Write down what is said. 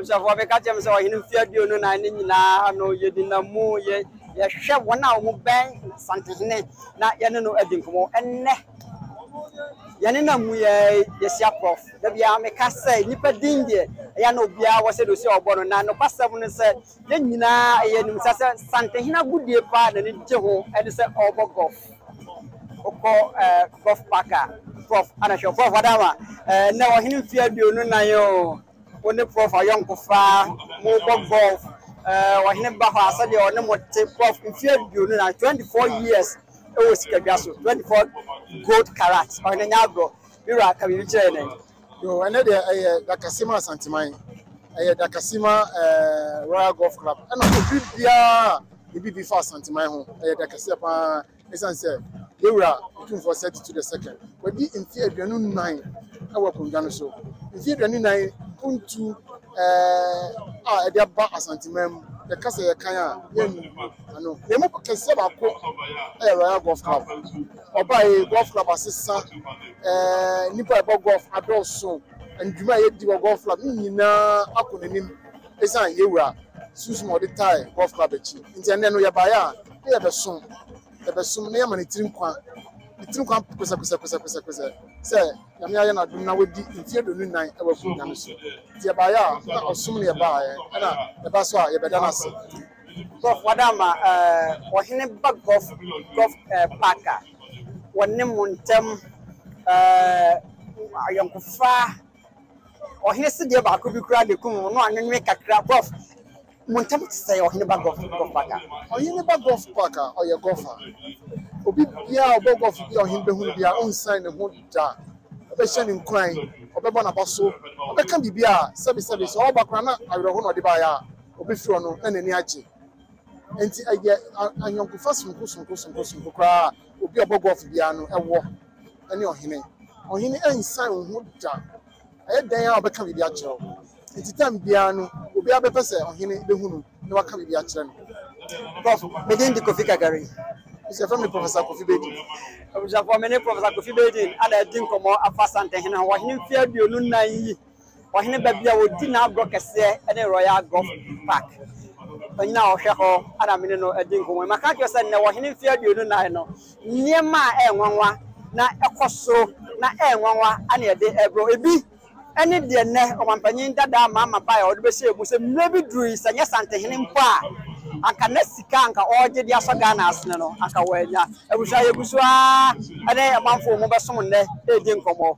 abusuafoɔ bɛka kyerɛ m sɛ ɔhene mfe aduonu nan ne nyinaa no yɛdina mu yɛ yɛhwɛ wɔn a wɔn bɛn santehene na yɛne no adi nkɔmmɔ ɛnnɛ Yɛnenam mu yi ara yi yɛhyia Prof. Da biara meka sɛ nnipa din deɛ ɛyɛ a na obiara wɔ sɛdeɛ ɔsi a ɔbɔ no na nokwasɛm ne sɛ yɛn nyinaa yɛnim sa sɛ Santehene agodie paa a n'ani gye ho ne sɛ ɔrebɔ gɔlf. Wokɔ gɔlf paak a, Prof. Ana hwɛ Prof. Adama ɛnnɛ ɔhene mfeɛ aduonu nan oo. Wo ne prof ayɔnkofa, mobɔ golf, eh, ɔhene ba hɔ a sɛdeɛ ɔne mo te, prof mfeɛ aduonu na 24 years ɛwɔ sikadwa so, 24 gold karat, ɔhene nyɛ agorɔ, me wura ka biribi kyerɛ yɛn ɛ. Yoo, ɛnnɛ deɛ ɛyɛ Dakasima Asanteman, ɛyɛ Dakasima eh, Royal Golf Club, ɛna obi biara a ne biribi fa Asanteman ho, ɛyɛ Dakasia paa, Esiane sɛ yɛn Wura Otumfoɔ Seti Tu the Second wadi mfe aduonu nnan wɔ akondwa no so, mfe aduonu nnan mpontu a ɛde aba Asanteman mu, yɛka sɛ yɛkan a yɛrennu ano. Na emu kɛseɛ baako yɛ Royal Golf Club. Ɔbaeɛ yi, Golf Club asesa, nnipa a ɛbɔ golf adɔɔso, na dwuma a yɛdi wɔ Golf Club no nyinaa akɔ n'anim. Esiane yɛn Wura sunsum a ɔde tae Golf Club akyi nti, ɛnnɛ no yɛbaeɛ a na yɛbɛsom, yɛbɛsom na yɛama ne tiri nkwa, ne tiri nkwa pɛsɛpɛsɛpɛsɛpɛsɛ sɛ Nyame ayɛ no adom na wadi mfeɛ aduonu nnan wɔ akonnwa no so. Nti yɛbaeɛ a na ɔsom na yɛbaeɛ, ɛna yɛba so a yɛbɛda no ase. Golf wada ama Ɔhene ba Golf Golf Park a wɔne mo ntam ayɔnkofa. Ɔhene sedeɛ baako bi koraa na ɛkum wo no a nwonwe kakra Gulf mo ntam te sɛ ɔhene ba Gulf Park a. Ɔhene ba Gulf Park a ɔyɛ Gulf a. Obi biara a ɔbɔ Gulf bi a ɔhene bɛhu no biara ɔnsiane ne ho da. Ɔbɛhyɛ no nkuran, ɔbɛbɔ n'aba so, ɔbɛka biribi a sɛbe sɛbe sɛ ɔreba koraa na awerɛhoɔ na ɔde baeɛ a ɔbɛfiri hɔ no na n'ani agye. Enti ɛyɛ ayɔnkofa sononko sononko sononko sononko koraa a obi a ɔbɔ Gulf biara no wɔ. ne ɔhene. Ɔhene ansian wo ho da. Ɛyɛ dɛn ara a ɔbɛka biribi akyerɛ wo. Enti tam biara no, obiara bɛpɛ sɛ ɔhene behu no na waka biribi akyerɛ no. Prof. Me din de Kofi Kagari. Nso yɛfrɛ me Professor Kofi Baden. Abusuafoɔ, me ne Professor Kofi Baden na adi nkɔmmɔ afa Asantehene ho wɔ ɔhene mfeɛ aduonu nnan yi Ɔhene baabi a ɔdi n'agorɔ kɛseɛ ne Royal Golf Park. Ɔnyina hɔ hwɛ hɔ na me ne no di nkɔmmɔ. Maka akyerɛ sɛ nnɛ wɔ ɔhene mfeɛ aduonu nnan no, nneɛma a ɛyɛ nwanwa na ɛkɔ so na ɛyɛ nwanwa na yɛde rebrɛ. Ebi ne deɛ nnɛ ɔmampanyin dada Mahama baeɛ a ɔde bɛhyɛɛ mu sɛ mmerɛ bi duru yi sɛ nyɛ Santehene mpo a anka na sika anka ɔregye de asɔ Ghana asene no anka wannya. Abusua yɛgu so ara ne amanfoɔ mu bɛsom nnɛ redi nkɔmmɔ.